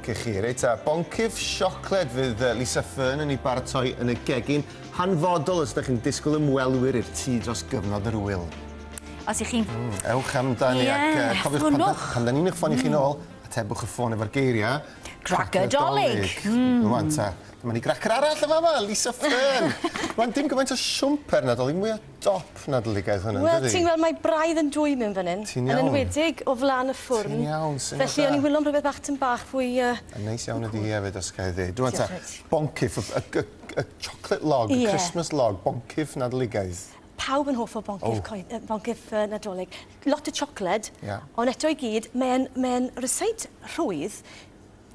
Cych chi. Reit ta, boncyff siocled fydd Lisa Fearn yn ei baratoi yn y gegin, hanfodol os ydych chi'n disgwyl ymwelwyr i'r tŷ dros gyfnod yr wyl. Os ych chi'n... Mm, ewch amdani yeah, ac uh, cofiwch pan, pan, pan da ni'n eich ffoni mm. chi'n ôl, atebwch y ffôn efo'r geiriau. Gracadolig! Mm. Rwan ta, dyma ni gracer arall y fama, Lisa Fearn. Rwan, dim gymaint o siwmper nadolig, mwy o dop nadledigaeth hwn yndydi? Wel ti'n gweld mae braidd yn dwy mewn fan hyn. Ti'n iawn. Yn enwedig o flan y ffwrn. Ti'n iawn syniad da. Felly o'n i'n wilo am rwbeth bach tym bach fwy yy... Yn neis iawn ydi hi efyd os ga'i ddeud. Rŵan ta, boncyff y y y y chocolate log, y Christmas log, boncyff nadledigaeth. Pawb yn hoff o boncyff coe- yy boncyff yy Nadolig. Lot o siocled. Ia. Ond eto i gyd mae'n mae'n rysáit rhwydd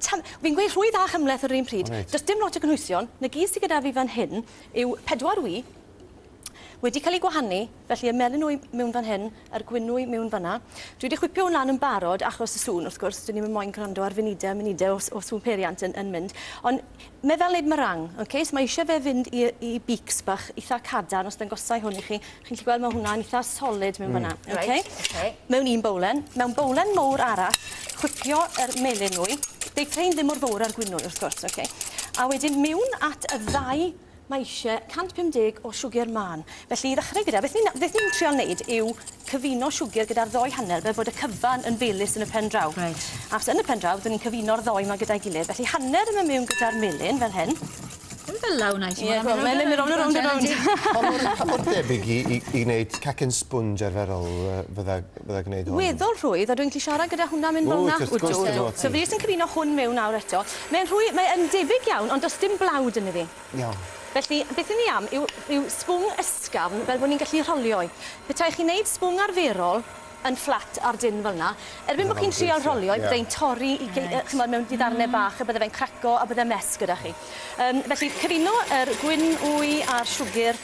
tan- fi'n gweud rhwydd a chymhleth ar yr un pryd. Wyt. Do's dim lot o gynhwysion. 'Na gyd sy gyda fi fan hyn yw pedwar ŵy. wedi cael eu gwahanu, felly y melinwy mewn fan hyn a'r gwynwy mewn fanna. Dwi wedi chwipio hwn lan yn barod achos y sŵn, wrth gwrs, dyn ni'n yn moyn gwrando ar funudau a munudau o, o sŵn peiriant yn, yn mynd. Ond mae fel wneud meringue, okay? so mae eisiau fe fynd i, i beaks bach eitha cadarn, os dangosau hwn i chi, chi'n gallu gweld mae hwnna'n eitha solid mewn mm. fanna. Okay? Right, okay. Mewn un bowlen, mewn bowlen mowr arall, chwipio yr melinwy, deitrau ddim mor fawr ar gwynwy, wrth gwrs, okay? a wedyn mewn at y ddau Mae eisiau 150 o siwgr mân. Felly i ddechrau gyda, beth ni'n beth ni'n trio wneud yw cyfuno siwgr gyda'r ddoi hanner fel bod y cyfan yn felys yn y pen draw. Reit. Achos yn y pen draw dyn ni'n cyfuno'r ddoi 'ma gyda'i gilydd. Felly hanner yn mynd miwn gyda'r melyn fel hyn. Ddim fela wnâi t'mo'? Ie go- mae'n mynd rownd a rownd a rownd. Pa mor pa mor debyg i i i neud cacen sponge arferol yy fydda bydda gneud hwn. Weddol rhwydd a dwi'n gallu siarad gyda hwnna mynd fel 'na. Wyt wrth gwrs dwi o'r ti. So fi jyst yn cyfuno hwn mewn nawr eto. Mae'n rhwy- mae yn debyg iawn ond does dim blawd ynddo fi. Iawn. Felly beth 'yn ni am yw yw sbwng ysgafn fel bo' ni'n gallu rholio 'i. Petai chi'n neud sbwng arferol yn fflat ar dân fel 'na erbyn bo' chi'n trial rholio 'i byddai'n torri i gei- yy ch'mod mewn i ddarne bach a bydde fe'n craco a bydde'n mess gyda chi. Yym felly cyfuno yr gwin wy a'r siwgyr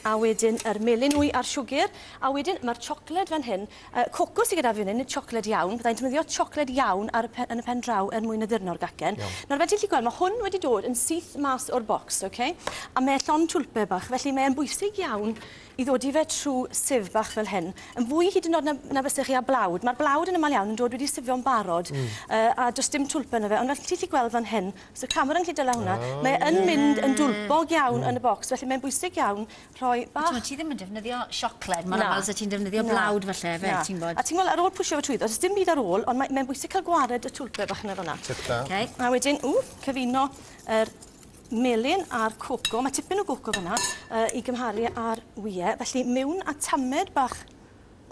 A wedyn yr melyn wy a'r siwgr. A wedyn ma'r chocolate fan hyn. Yy coco sy gyda fi fan hyn yw chocolate iawn. Fyddai'n defnyddio chocolate iawn ar y pe- yn y pen draw er mwyn addurno'r gacen. Iawn. Nawr fel ti'n gallu gweld ma' hwn wedi dod yn syth mas o'r bocs oce? A mae e llond twlpe bach felly mae e'n bwysig iawn i ddodi fe trw sieve bach fel hyn. Yn fwy hyd yn o'd na na fyse chi â blawd. Ma'r blawd yn amal iawn yn dod wedi sifio'n barod. Hmm. Yy a do's dim twlpe yno fe ond fel ti'n gallu gweld fan hyn So camera yn gallu dala hwnna. Oh, Mae yn mynd yn dwlbog iawn yn y bocs, felly mae'n bwysig iawn rhoi bach... Ti'n ti ddim yn defnyddio siocled mor aml sa ti'n defnyddio blawd falle fe, ti'n bod. A ti'n gweld ar ôl pwysio fe trwyddo, does dim byd ar ôl, ond mae mae'n bwysig cael gwared y twlpe bach yna fel 'na. Tip da. Okay. A wedyn, ww, cyfuno yr melyn a'r coco, mae tipyn o goco fanna, uh, i gymharu â'r wie, felly mewn a tamed bach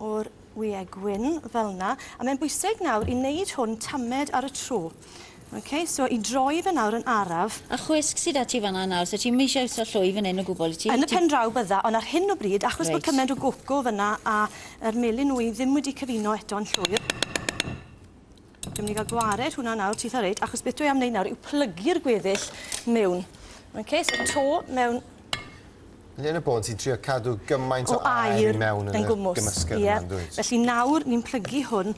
o'r wyau gwyn fel 'na. A mae'n bwysig nawr i wneud hwn tamed ar y tro. OK, so i droi fe nawr yn araf. A chwisg sy 'da ti fan'na nawr, so ti'm eisiau iwso llwy fan hyn o gwbl, wyt ti? Yn y pen draw bydda, ond ar hyn o bryd, achos bod cymaint o goco fan'na a yr melyn wy ddim wedi cyfuno eto'n llwyr, Dwi'n mynd i gael gwared hwnna nawr titha reit achos beth dwi am wneud nawr yw plygu'r gweddill mewn. Ok, so to mewn. Yn un o bôn ti'n trio cadw gymaint o, o air i mewn yn, yn gwmws. gymysgedd yeah. yma, dwyt? Felly nawr ni'n plygu hwn.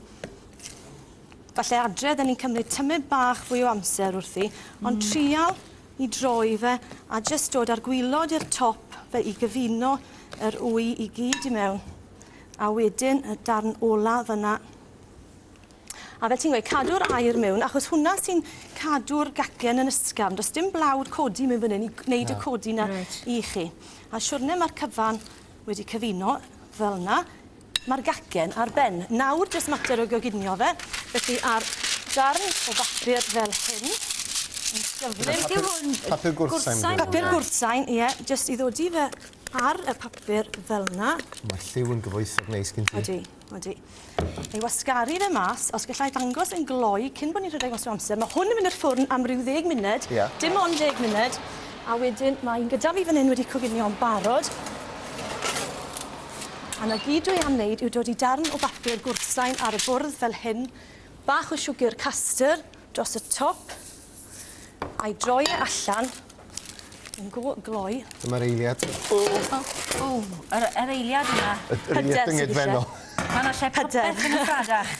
Falle adre, dda ni'n cymryd tymed bach fwy o amser wrthi, mm. ond trial i droi fe a jyst dod ar gwylod i'r top fe i gyfuno yr wy i gyd i mewn. A wedyn y darn ola fyna A fel ti'n gweud cadw'r aer miwn achos hwnna sy'n cadw'r gacen yn ysgafn. Do's dim blawd codi miwn fan 'yn i g- neud y codi 'na... Reit. ...i chi. A siwrne ma'r cyfan wedi cyfuno fel 'na ma'r gacen ar ben. Nawr jyst mater o goginio fe felly a'r darn o bapur fel hyn yn gyflym... Beth yw hwn? Papur gwrthsain? Gwrthsain? Papur gwrthsain ie jyst i ddodi fe ar y papur fel 'na. Ma'r lliw yn gyfoethog neis gen ti. Odi. Wel dwi ei wasgaru fe mas os gellai ddangos yn gloi cyn bo' ni'n rhedeg mas o amser. Ma' hwn yn mynd i'r ffwrn am ryw ddeg munud. Ie. Dim ond deg munud a wedyn ma' un gyda fi fan 'yn wedi coginio'n barod. A 'na gyd dwi am neud yw dod i darn o bapur gwrthsain ar y bwrdd fel hyn, bach o siwgr castyr dros y top. A'i droi e allan yn go gloi. Dyma'r eiliad. O! O! Yr yr eiliad yma. Y yr eiliad dyngedfennol. Ma' 'na lle popeth yn y Pradach.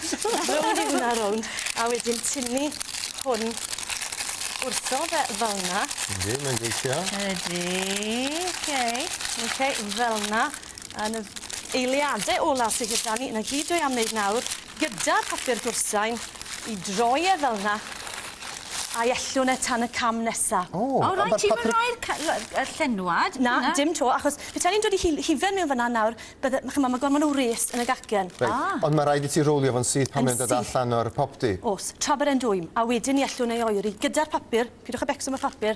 Rownd i hwnna rownd a wedyn tynnu hwn wrtho fe fel 'na. Yndi, mae'n gweithio. Ydi. Oce. Oce, fel 'na. A 'na eiliade ola sy gyda ni. 'Na gyd dwi am neud nawr gyda phapur gwrsain i droi e fel 'na a'i ellwn e tan y cam nesa. O! O reit ti'm yn rhoi'r ca- la- y llenwad. Na dim 'to achos petai ni'n dod i hil- hufen mewn fynna nawr bydde ma' ch'mo' ma' gormod o wres yn y gacen. Reit. A! Ond ma' raid i ti rowlio fo'n syth pan mae'n dod allan o'r popty. O's, tra bod e'n dwym, a wedyn 'ny ellwn ei oeri gyda'r papur, pidwch â becso am y papur,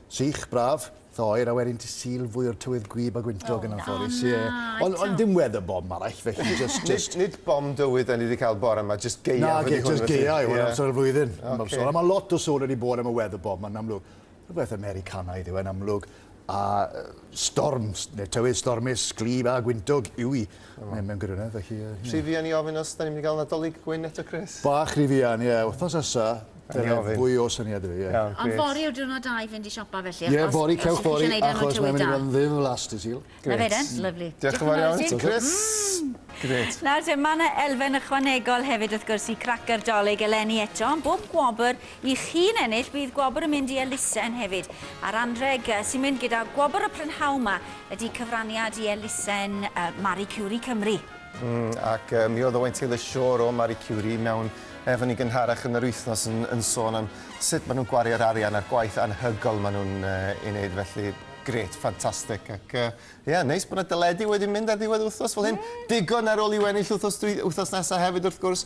Sych, braf, itha oer a wedyn ti Sul fwy o'r tywydd gwib a gwyntog yn anffodus. Ie. Ond ond dim weather bomb arall felly jyst jyst... Nid nid bomb dywydd 'dan ni 'di cael bore 'ma jyst gaeaf ydi hwn felly. Nage jyst gaeaf yw hwn amser y flwyddyn. Ocê. A ma' lot o sôn wedi bod am y weather bomb 'ma'n amlwg. Rhywbeth Americanaidd yw e'n amlwg a yy storms ne' tywydd stormus, gwlyb a gwyntog yw 'i. Mae mewn gwirionedd, felly... Rhy fuan i ofyn os 'da ni'n mynd i gael Nadolig gwyn eto, Chris? Bach rhy fuan, ie. Wythnos nesa, dyna fwy o syniad i fi, ie. Ond fory yw'r diwrnod da i fynd i siopa felly, achos... Ie, fory, cewch fory, achos mae'n mynd i fod yn ddiflas dydd Sul. Na fe de, lyfli. Diolch yn fawr iawn ti, Chris. Grêt. Nawr te, ma' 'na elfen ychwanegol hefyd wrth gwrs i Cracyr Dolig eleni eto, bob gwobr I chi'n ennill, bydd gwobr yn mynd i elusen hefyd, a'r anrheg sy'n mynd gyda gwobr y prynhawn 'ma ydi cyfraniad i elusen Marie Curie Cymru. Mm, ac mi oedd Owain Taylor Shore o Marie Curie mewn efni gynharach yn yr wythnos yn, yn sôn am sut maen nhw'n gwario'r arian a'r gwaith anhygoel maen nhw'n uh, ei wneud, felly gret, ffantastig. Ac uh, yeah, neis bod yna deledu wedi mynd ar ddiwedd wythnos fel hyn. Mm. Digon ar ôl i wennill wythnos, dwi, wythnos nesaf hefyd wrth gwrs.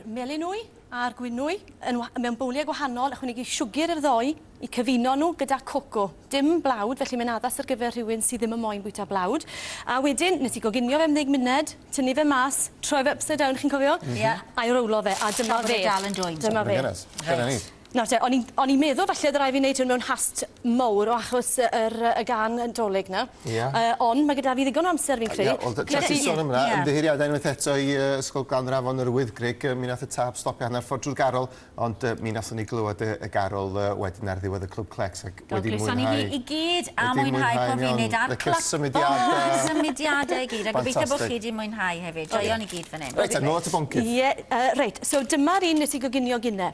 melinwy a'r gwinwy yn wa- mewn bowliau gwahanol, ychwanegu siwgr i'r ddou i cyfuno nhw gyda coco. Dim blawd, felly mae'n addas ar gyfer rhywun sydd ddim yn moyn bwyta blawd. A wedyn, nes i goginio fe am ddeg munud, tynnu fe mas, troi fe upside down, chi'n cofio? Ie. A'i rowlo fe, a dyma fe. Tra bod e dal yn dwym. Dyma fe. Reit. Dyna ni. Nawr te, o'n i'n o'n i'n meddwl falle o'dd rai' fi neud hwn mewn hast mowr o achos yy yr yy y gân yy 'Dolig 'na. Ia. Yy ond ma' gyda fi ddigon o amser fi'n credu. Ia wel t- tsiepis sôn am wnna ymddiheuriada unwaith eto i yy Ysgol Glan yr Afon yr Wyddgrug yy mi nath y tâp stopio hannar ffor drw'r garol ond yy mi nathon ni glywed yy y garol yy wedyn ar ddiwedd y Clwb Clecs ag wedi mwynhau... Wel croeso i ni i gyd a mwynhau pob funud a'r cla- licio'r symudiada. O y symudiada i gyd a gobeithio bo' chi 'di mwynhau hefyd. Joio ni gyd fan 'yn. Reit te nôl at y boncyff. Ie yy reit so dyma'r un nes i goginio gine.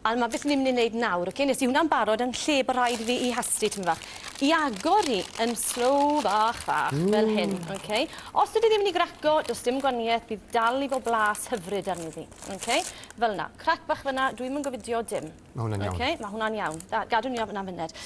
A 'na be swn i'n myn' i neud nawr oce nes i wnna'n barod yn lle bo' rhaid i fi 'i hastlu tym' fach i agor hi yn slow fach fach... Ww. ...fel hyn oce? Os ydi ddim myn' i graco do's dim gwanieth bydd dal i bo' blas hyfryd arni ddi oce? Fel 'na. Crac bach fyn 'na dwi'm yn gofidio dim. Ma' hwnna'n iawn. Oce? Ma' hwnna'n iawn. Da. Gadw ni o fyn 'na fyned.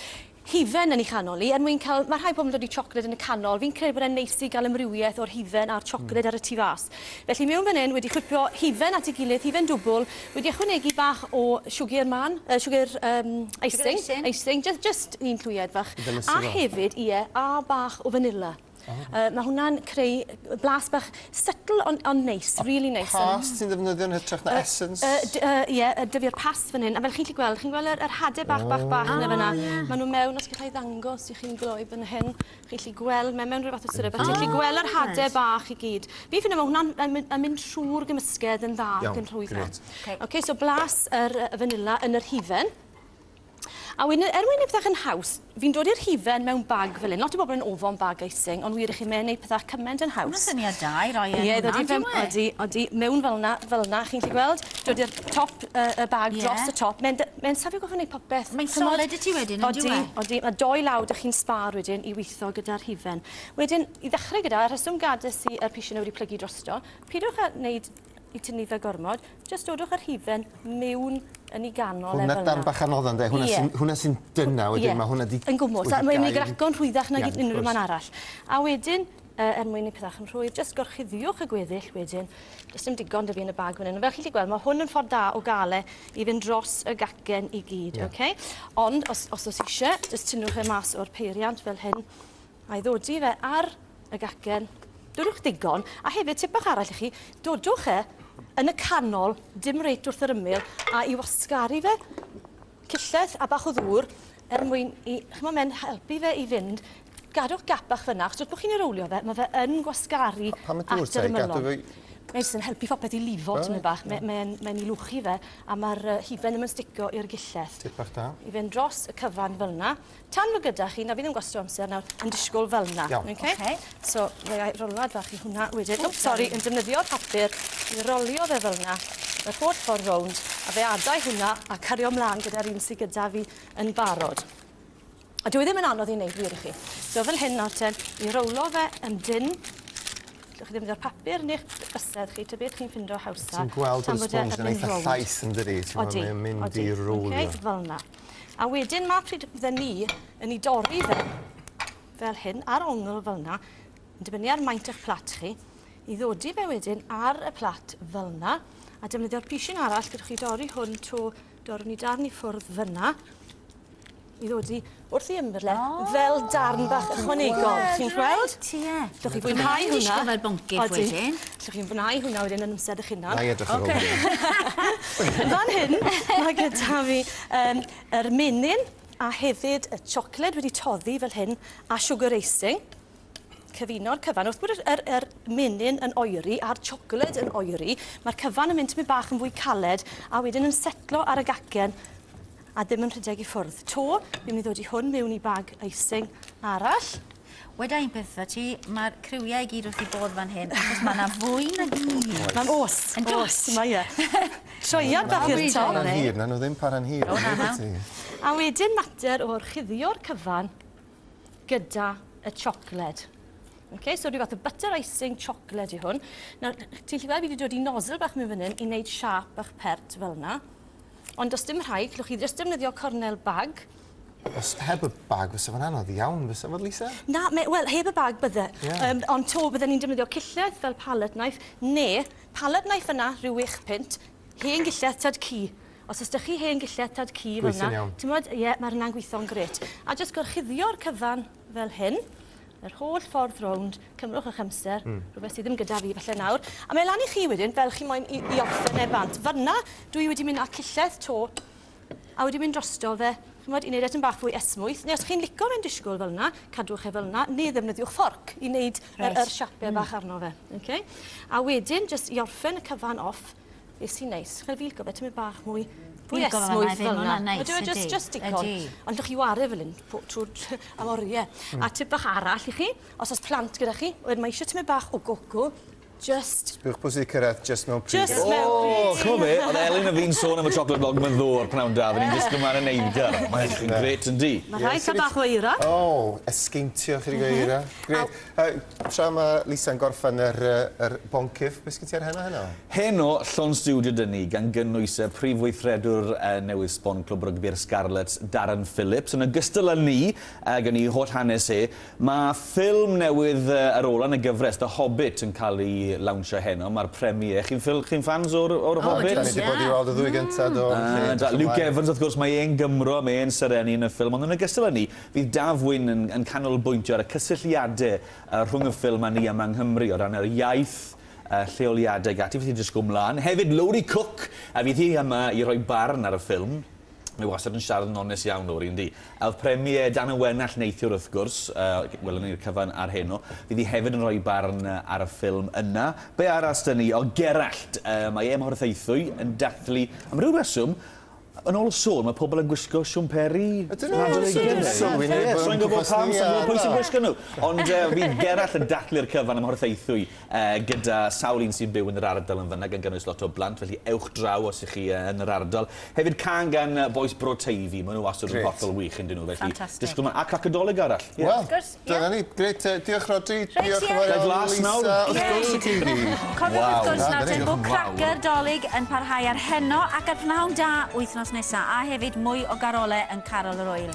hufen yn ei chanol hi er mwyn cael... Mae rhai pobl yn dod i siocled yn y canol. Fi'n credu bod e'n neis i gael amrywiaeth o'r hufen a'r siocled ar y tu fas. Felly mewn fan hyn, wedi chwipio hufen at ei gilydd, hufen dwbwl, wedi ychwanegu bach o siwgr mân, yy siwgr yym icing, icing, jyst jyst un clwyed fach, a hefyd, ie, a bach o fanila. Uh, mae hwnna'n creu blas bach subtle ond on neis, really rili neis. Past ti'n ddefnyddio'n hytrach na uh, essence? Ie, uh, uh, yeah, uh, dyfio'r past fan hyn. A fel chi'n gallu gweld, chi'n gweld yr, yr hade bach, bach, bach oh. na fyna. Yeah. Maen nhw mewn, os gallai ddangos i chi'n gloi fan hyn, chi'n gallu gweld, mae mewn rhywbeth o syrup, a chi'n gallu gweld yr hade bach i gyd. Fi ffynu mae hwnna'n yn mynd trwy'r gymysgedd yn dda ac yn rhwydd. Iawn, Oce, so blas yr vanilla yn yr hufen. A wedyn y- er mwyn neud pethach yn haws, fi'n dod i'r hufen mewn bag fel 'yn. Lot o bobl yn ofon bag icing, ond wir i chi, mae e'n neud pethach cyment yn haws. Ma'n syniad da i roi e yn hwnna, yndyw e? Ie, odi fe- odi, odi. Mewn fel 'na, fel 'na, chi'n gallu gweld? Dod i'r top y- y bag... Ie. ...dros y top. Mae'n dy- mae'n safio gorffo neud popeth. Mae'n solid i ti wedyn, yndyw e? Odi, odi. A dou law 'da chi'n sbâr wedyn i witho gyda'r hufen. Wedyn, i ddechre gyda, y rheswm gades i y pishyn 'na wedi plygu drosto, pidwch â neud i tynnu fe gormod, jyst dodwch yr hufen miwn yn i ganol hwna e fel yna. Hwna bach anodd ynddo, hwna yeah. sy'n sy dyna wedyn, yeah. mae hwna di... Yn gwmwys, a mae'n ei graco'n rhwyddach nag yeah, unrhyw man arall. A wedyn, uh, er mwyn i pethau yn rhwydd, jyst gorchuddiwch y gweddill wedyn. Does dim digon dy fi yn y bag fan hyn. Fel chi wedi gweld, mae hwn yn ffordd da o gael e i fynd dros y gacen i gyd, yeah. okay? Ond, os, os oes eisiau, jyst tynnwch e mas o'r peiriant fel hyn, A'i ddodi fe ar y gacen. Dodwch ddigon, a hefyd tip bach arall i chi, dodwch e yn y canol, dim reit wrth yr ymyl, a i wasgaru fe cyllell a bach o ddŵr er mwyn i, ch'mo' mae'n helpu fe i fynd. Gadwch gap bach fyna, achos wrth bo' chi'n ei rowlio fe, ma' fe yn gwasgaru at yr ymylon. A pam y dŵr te, i gadw fe i...? Mae jyst yn helpu phopeth i lifo tipyn bach. Mae e'n mae'n 'i lwchu fe, a ma'r yy hufen ddim yn stico i'r gyllell. Tip bach da. I fynd dros y cyfan fel 'na, Tan fo gyda chi, na fi ddim gwasto amser nawr yn disgwl fel 'na. Iawn. Oce? Oce. So fe ai rolad fach i hwnna wedyn. Wps sori, yn defnyddio papur i rolio fe fel 'na yr holl ffordd rownd, a fe adau hwnna a cario mlan gyda'r un sy gyda fi yn barod. A dyw e ddim yn anodd i neud wir i chi. So fel hyn nawr ten, i rowlo fe yn dynn, gellwch chi ddefnyddio'r papur neu'ch bysedd chi, ta beth chi'n ffindo hawsa. Ti'n gweld bod y sponge yn eitha llaith yndydi? Odi. T'mod mae o'n mynd i rowlio. Oce, fel 'na. A wedyn ma pryd fydden ni yn i dorri fe fel hyn, ar ongl fel na, yn dibynnu ar maint eich plat chi, i ddodi fe wedyn ar y plat fel na, a defnyddio'r pishyn arall gyda chi dorri hwn to dorri ni darn i ffwrdd fyna, i ddodi wrth i ymberle oh, fel darn bach ychwanegol. Chi'n gweld? Ie. Dwch chi fwynhau hwnna. Dwi'n fel boncyff wedyn. Allwch chi fnau hwnna wedyn yn amser eich hunan. Nai edrych ar ôl hynny. Fan hyn ma' gyda fi yym yr menyn a hefyd y chocolate wedi toddi fel hyn a sugar icing. Cyfuno'r cyfan. Wrth bod yr yr yr menyn yn oeri a'r chocolate yn oeri ma'r cyfan yn mynd tipyn bach yn fwy caled a wedyn yn setlo ar y gacen a ddim yn rhedeg i ffwrdd 'to. Fi myn' i ddod i hwn mewn i bag icing arall. Weda un peth wrtha ti, mae'r criwiau i gyd wrth i bod fan hyn, achos mae yna fwy na gyd. Mae'n os, yn os, mae e. Troiad bach i'r to. Mae'n hir, na nhw ddim para'n hir. O, na, na. A wedyn mater o'r chuddio'r cyfan gyda y chocolate. Okay, so rhyw fath o butter icing chocolate i hwn. Nawr, ti'n lli gweld fi wedi dod i nozzle bach mewn fan hyn i wneud siap bach pert fel yna. Ond os dim rhaid, llwch chi jyst defnyddio cornel bag Os heb y bag, fysa fo'n anodd iawn, fysa fod, Lisa? Na, me, wel, heb y bag bydde. Yeah. Um, ond to, bydden ni'n defnyddio cilledd fel pallet knife, neu pallet knife yna, rhyw wych pint, hen gilledd tad cu. Os ysdych chi hen gilledd tad cu fel yna, ti'n bod, ie, yeah, mae hynna'n gweithio'n gret. A jyst gorchuddio'r cyfan fel hyn, yr holl ffordd rownd, cymrwch eich amser, mm. rhywbeth sydd ddim gyda fi falle nawr. A mae lan i chi wedyn, fel chi moyn i, i orffen e bant. Fyna, dwi wedi mynd â cilledd to a wedi mynd drosto fe, ch'mod, i wneud e tym bach fwy esmwyth, neu os chi'n lico fe'n disgwyl fel 'na, cadwch e fel 'na, neu ddefnyddiwch fforc i wneud yr yr siape bach arno fe. Oce? A wedyn jyst i orffen y cyfan off, be' sy'n neis, chi lico fe tymed bach mwy fwy esmwyth fel 'na. Ydyw e jyst jyst digon. Ond allwch chi 'ware fel 'yn po- trw'r tr- am orie. A tip bach arall i chi, os o's plant gyda chi, wedyn mae eisiau tymed bach o goco, Jyst. Sbiwch pwy sy 'di cyrraedd jyst mewn pryd. Jyst mewn pryd. O! Ch'mo' be'? O'dd Elin a fi'n sôn am y chocolate blog 'ma ddo ar pnawn da. Fy' ni'n disgwl mlan yn neud e. Mae edrych yn grêt yndi? Ma' rhaid ca'l bach o eira. O! Esgeintio chydig o eira. Grêt. Yy tra ma' Lisa'n gorffen yr yy yr boncyff, be' sgin ti ar heno heno? Heno, llond stiwdio 'da ni, gan gynnwys y prif weithredwr yy newydd sbon Clwb Rygbi'r Scarlets, Darren Phillips, yn ogystal â ni, ag yn 'i holl hanes e. Mae ffilm newydd ar ôl yn y gyfres, The Hobbit, yn cael ei lawnsio heno, mae'r premiere. Chi'n ffil- chi'n ffans o'r o'r Hobbit? O, dwi'n siarad. Da ni 'di bod i weld y ddwy gynta, do. Felly, edrych ymlaen. Luke Evans, wrth gwrs, mae e'n Gymro, mae e'n serennu yn y ffilm, ond yn ogystal â 'ny, fydd Daf Wyn yn yn canolbwyntio ar y cysylltiade yy rhwng y ffilm a ni yma yng Nghymru, o ran yr iaith, y lleoliade ag ati, felly jyst go mlan. Hefyd, Lowri Cooke, a fydd hi yma i roi barn ar y ffilm. Mae wastad yn siarad yn onest iawn, Lowri, yndi? A oedd Premier Dan y Wenallt neithiwr, wrth gwrs, yy welwn ni'r cyfan ar heno, fydd hi hefyd yn rhoi barn ar y ffilm yna. Be arall 'da ni? O, Gerallt! Yy, mae e mor theithwy, yn dathlu. Am ryw reswm, yn ôl y sôn, mae pobl yn gwisgo siwmperi Nadolig hefyd. Swy'n gwybod pam, swy'n gwybod pwy sy'n gwisgo nhw! Ond yy, fydd Gerallt yn dathlu'r cyfan ym Mhorthaethwy gyda sawl un sy'n byw yn yr ardal yn fanna, gan gynnwys lot o blant, felly ewch draw os ych chi yn yr ardal. Hefyd can gan bois Bro Teifi, maen nhw wastad yn hollol wych yn dyn nhw, felly disgwyl ma... A Crac y Dolig arall. Wel, dyna ni, grêt, diolch Rhodri, diolch yn fawr iawn Lisa, wrth gwrs y Teifi. Cofiwch wrth gwrs nawr te bod Crac y Dolig yn parhau ar heno ac ar Prynhawn Da wythnos nesa, a hefyd mwy o garolau yn Carol yr Ŵyl.